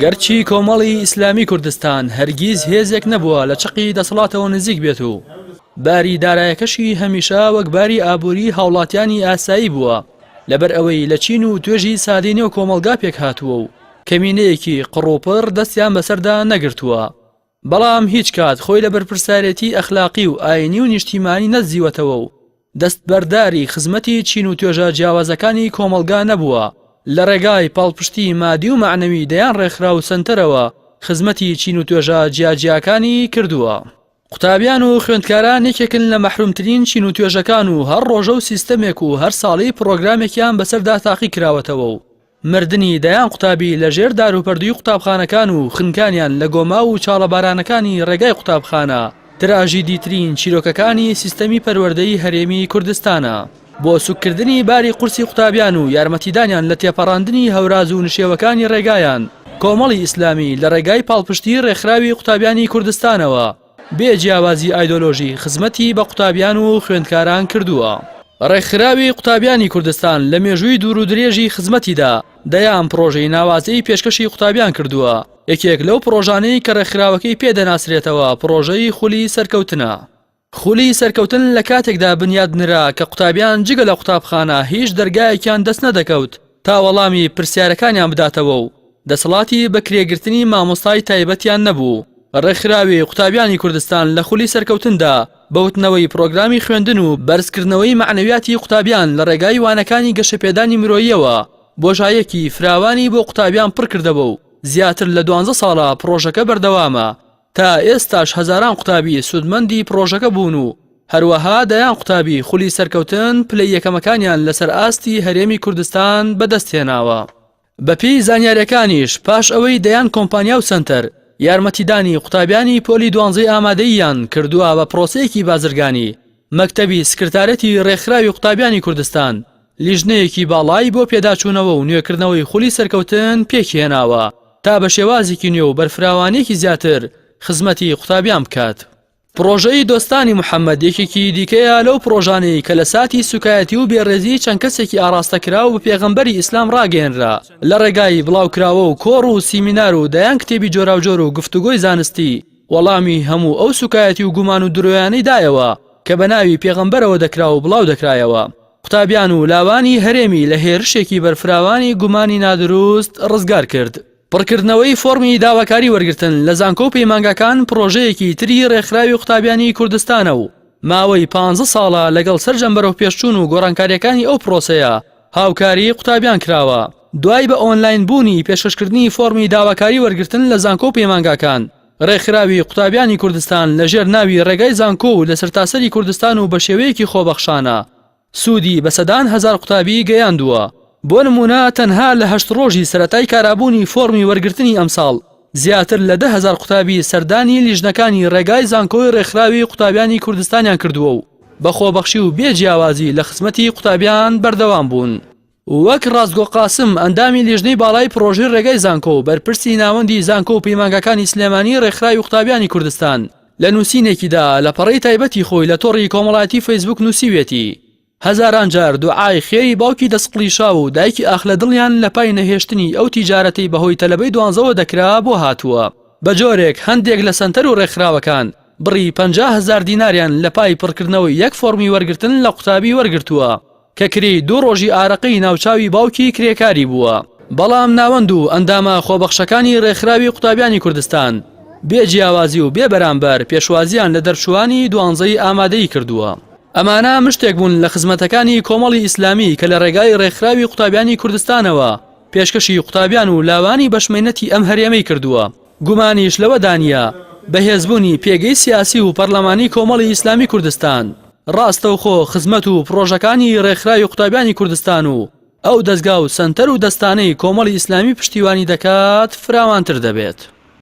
گەرچی کۆمەڵی ئیسلامی کوردستان هەرگیز هێزێک نەبووە لە چقی دەسەڵاتەوە نزیک بێت و باری دارایەکەشی هەمیشە وەک باری ئابووری هاوڵاتیانی ئاسایی بووە لەبەر ئەوەی لە چین و توێژی سادی نێو کۆمەلگا پێک هاتووە و کەمینەیەکی قڕوپڕ دەستیان بەسەردا نەگرتووە بەڵام هیچ کات خۆی لە بەرپرسارێتی ئەخلاقی و ئاینی و نیشتیمانی نەدزیوەتەوە و دەستبەرداری خزمەتی چین و توێژە جیاوازەکانی کۆمەڵگا نەبووە، لە ڕێگای پاڵپشتی مادی و مەعنەوی دەیان ڕێکخراو و سەنتەرەوە خزمەتی چین و توێژە جیاجیاکانی کردووە. قوتابیان و خوێندکاران یەکێکن لە مەحرومترین چین و توێژەکان و هەر ڕۆژە و سیستەمێک و هەر ساڵی پڕۆگرامێکیان بەسەردا تاقی کراوەتەوە و مردنی دەیان قوتابی لە ژێر داروپەردووی قوتابخانەکان و خنکانیان لە گۆماو و چاڵە بارانەکانی ڕێگای قوتابخانە، تراژیدیترین چیرۆکەکانی سیستەمی پەروەردەی هەرێمی کوردستانە. بۆ سوککردنی باری قورسی قوتابیان و یارمەتیدانیان لە تێپەڕاندنی هەوراز و نشێوەکانی ڕێگایان، کۆمەڵی ئیسلامی لە ڕێگای پاڵپشتیی ڕێکخراوی قوتابیانی کوردستانەوە، بێ جیاوازی ئایدۆلۆژی خزمەتی بە قوتابیان و خوێندکاران کردووە. ڕێکخراوی قوتابیانی کوردستان لە مێژووی دوور و درێژی خزمەتیدا دەیان پڕۆژەی ناوازەی پێشکەشی قوتابیان کردووە، یەکێک لەو پڕۆژانەی کە ڕێکخراوەکەی پێ دەناسرێتەوە پڕۆژەی خولی سەرکەوتنە. خولی سەرکەوتن لە کاتێکدا بنیات نرا کە قوتابیان جگە لە قوتابخانە هیچ دەرگایەکیان دەست نەدەکەوت، تا وەڵامی پرسیارەکانیان بداتەوە و دەسەڵاتی بەکرێگرتنی مامۆستای تایبەتیان نەبوو. ڕێکخراوی قوتابیانی کوردستان لە خولی سەرکەوتندا بوتنەوەی پرۆگرامی خوێندن و بەرزکردنەوەی مەعنەویاتی قوتابیان لە ڕێگای وانەکانی گەشەپێدانی مرۆییەوە بۆژایەکی فراوانی بۆ قوتابیان پڕکردەوە و زیاتر لە دوانزە ساڵە پڕۆژەکە بەردەوامە تا ئێستاش هەزاران قوتابی سوودمەندی پڕۆژەکە بوون و هەروەها دەیان قوتابی خولی سەرکەوتن پلەی یەکەمەکانیان لەسەر ئاستی هەرێمی کوردستان بەدەستهێناوە. بەپێی زانیارییەکانیش پاش ئەوەی دەیان کۆمپانیا و سەنتەر یارمەتیدانی قوتابیانی پۆلی دوانزەی ئامادەییان کردووە بە پڕۆسەیەکی بازرگانی، مەکتەبی سکرتارێتی رێکخراوی قوتابیانی کوردستان، لیژنەیەکی باڵای بۆ پێداچوونەوە و نوێکردنەوەی خولی سەرکەوتن پێکهێناوە، تا بە شێوازێکی نوێ و بەرفراوانییەکی زیاتر خزمەتی قوتابیان بکات. پڕۆژەی دۆستانی محەمەد یەکێکی دیکەیە لەو پڕۆژانەی کە لە ساتی سووکایەتی و بێڕێزیی چەند کەسێکی ئاڕاستەکراو بە پێغەمبەری ئیسلام ڕاگەیەنرا، لە ڕێگای بڵاوکراوە و کۆڕ و سیمینار و دەیان کتێبی جۆراوجۆر و گفتوگۆی زانستی، وەڵامی هەموو ئەو سووکایەتی و گومان و درۆیانەی دایەوە کە بە ناوی پێغەمبەرەوە دەکرا و بڵاودەکرایەوە. قوتابیان و لاوانی هەرێمی لە هێرشێکی بەرفراوانی گومانی نادروست ڕزگار کرد. پڕکردنەوەی فۆڕمی داواکاری وەرگرتن لە زانکۆ و پەیمانگاکان پڕۆژەیەکی تری ڕێکخراوی قوتابیانی کوردستانە و ماوەی پانزە ساڵە لەگەڵ سەرجەم بەرەوپێشچوون و گۆڕانکارییەکانی ئەو پڕۆسەیە هاوکاری قوتابیان کراوە. دوای بە ئۆنلاین بوونی پێشکەشکردنی فۆڕمی داواکاری وەرگرتن لە زانکۆ و پەیمانگاکان، ڕێکخراوی قوتابیانی کوردستان لەژێر ناوی ڕێگای زانکۆ و لەسەرتاسەری کوردستان و بەشێوەیەکی خۆبەخشانە سوودی بە سەدان هەزار قوتابی گەیاندووە، بۆ نموونە تەنها لە هەشت ڕۆژی سەرەتای کارابوونی فۆڕمی وەرگرتنی ئەمساڵ زیاتر لە دە هەزار قوتابی سەردانی لیژنەکانی ڕێگای زانکۆی ڕێکخراوی قوتابیانی کوردستانیان کردووە و بە خۆبەخشی و بێ جیاوازی لە خزمەتی قوتابیان بەردەوام بوون. وەک ڕاستگۆ قاسم، ئەندامی لیژنەی باڵای پڕۆژەی ڕێگای زانکۆ و بەرپرسی ناوەندی زانکۆ و پەیمانگاکانی سلێمانی ڕێکخراوی قوتابیانی کوردستان لە نووسینێکیدا لە پەڕەی تایبەتی خۆی لە تۆڕی کۆمەڵایەتی فەیسبووک نووسیویەتی هەزاران جار دوعای خێری باوکی دەستقڵیشاو و دایکی ئاخ لە دڵیان لە پای نەهێشتنی ئەو تیجارەتەی بە هۆی تەلەبەی دوانزەوە دەکرا بۆ هاتووە بە جۆرێک هەندێک لە سەنتەر و ڕێکخراوەکان بڕی پەنجا هەزار دیناریان لە پای پڕکردنەوەی یەک فۆڕمی وەرگرتن لە قوتابی وەرگرتووە کەکری دوو ڕۆژی ئارەقەی ناوچاوی باوکی کرێکاری بووە، بەڵام ناوەند و ئەندامە خۆبەخشەکانی ڕێکخراوی قوتابیانی کوردستان بێ جیاوازی و بێ بەرامبەر پێشوازییان لە دەرچووانی دوانزەی ئامادەیی کردووە. ئەمانە مشتێک بوون لە خزمەتەکانی کۆمەڵی ئیسلامی کە لە ڕێگای ڕێکخراوی قوتابیانی کوردستانەوە پێشکەشی قوتابیان و لاوانی بەشمەینەتی ئەم هەرێمەی کردووە. گومانیش لەوەدا نییە بەهێزبوونی پێگەی سیاسی و پەرلەمانی کۆمەڵی ئیسلامی کوردستان، ڕاستەوخۆ خزمەت و پڕۆژەکانی ڕێکخراوی قوتابیانی کوردستان و ئەو دەزگا و سەنتەر و دەستانەی کۆمەڵی ئیسلامی پشتیوانی دەکات فراوانتر دەبێت.